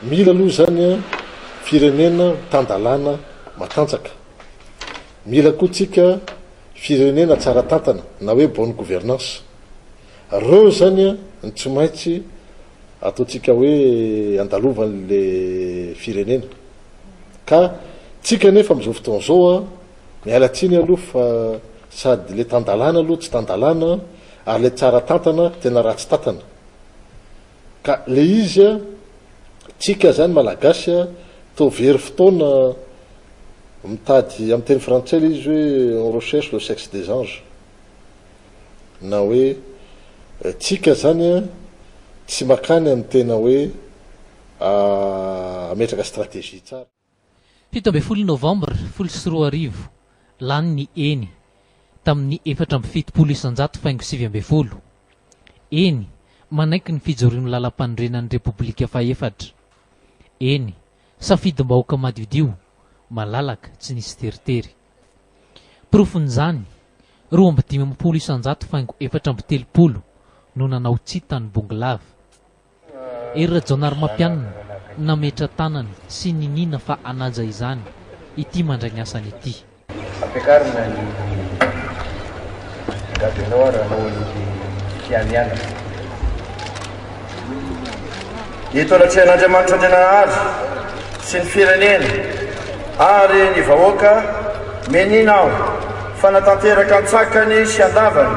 Mila aloha izany firenena tan-dalàna matanjaka. Mila koa tsika firenena tsara tantana na hoe bonne gouvernance. Reo izany ny tsy maintsy ataontsika hoe andalovan'le firenena. ka tsika nefa amin'izao fotoana izao a miala tsiny aloha fa sady le tan-dalàna aloha tsy tan-dalàna ary le tsara tantana tena ratsy tantana ka le izy a tsika zany malagasy a toa very fotoana mitady amin'ny teny frantsay le izy hoe on recherche le sexe des anges na hoe eh, tsika zany a tsy makany amin'ny tena hoe hametraka stratégie tsara. Fito ambin'ny folo novambra folo sy roa arivo, lany ny eny, tamin'ny efatra amby fitopolo isan-jato faingo sivy ambin'ny folo. Eny, manaiky ny fijoroan'ny Lalampanorenan'ny Repoblika fahefatra. Eny, safidim-bahoaka madiodio, malalaka, tsy nisy teritery. Porofon'izany, roa amby dimampolo isan-jato faingo efatra amby telopolo no nanao tsia tany Bongolava. Hery Rajaonarimampianina nametra-tanana sy niniana fa hanaja izany ity mandray ny asany ity. Ampiakarina ny gadonao ary anao aloky fianianana. Eto anatrehan'Andriamanitra Andriananahary sy ny firenena ary ny vahoaka, meniana aho fa na tanteraka an-tsakany sy an-davany,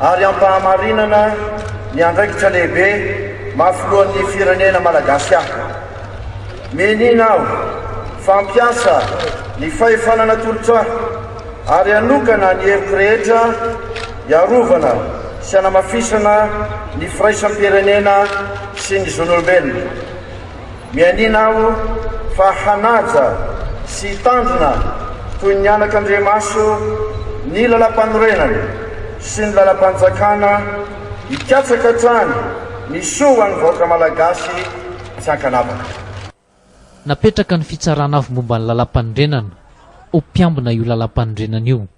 ary ampahamarinana ny andraikitra lehibe maha filohan'ny firenena malagasy ahy. Minia aho fa hampiasa ny fahefana natolotra ahy ary hanokana ny heviko rehetra hiarovana sy hanamafisana ny firaisam-pirenena sy ny zon'olombelona. Mianiana aho fa hanaja sy hitandrina toy ny anaka andriamaso ny Lalampanorenana sy ny Lalampanjakana hikatsaka hatrany ny soa ho an'ny vahoaka Malagasy tsy ankanavaka. Napetraka ny Fitsarana Afombomban'ny Lalampanorenana ho mpiambina io Lalampanorenana io.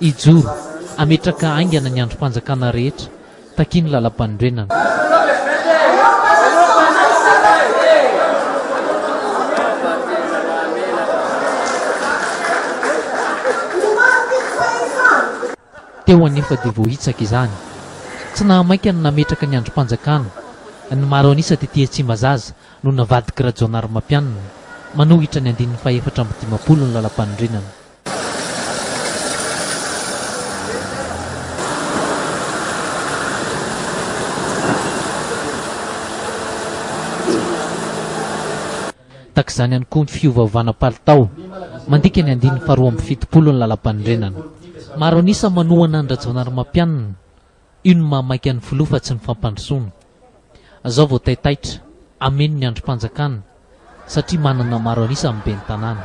Hijoro, hametraka haingana ny andrim-panjakana rehetra, takian'ny Lalampanorenana. Teo anefa dia voahitsaka izany. Tsy nahamaika ny nametraka ny andrim-panjakana. Ny maro an'isa tety Tsimbazaza no navadik'i Rajaonarimampianina. Manohitra ny andininy fahefatra amby dimampolo ny Lalampanorenana. Tahaka izany ihany koa ny fiovaovana palitao. Mandika ny andininy faharoa amby fitopolo ny Lalàmpanorenana. Maro an'isa manohana an-dRajaonarimampianina. Io no maha maika ny filoha fa tsy ny fampandrosoana. Zao vao taitaitra, hameno ny andrim-panjakana satria manana maro an'isa amin'ny ben'ny tanàna.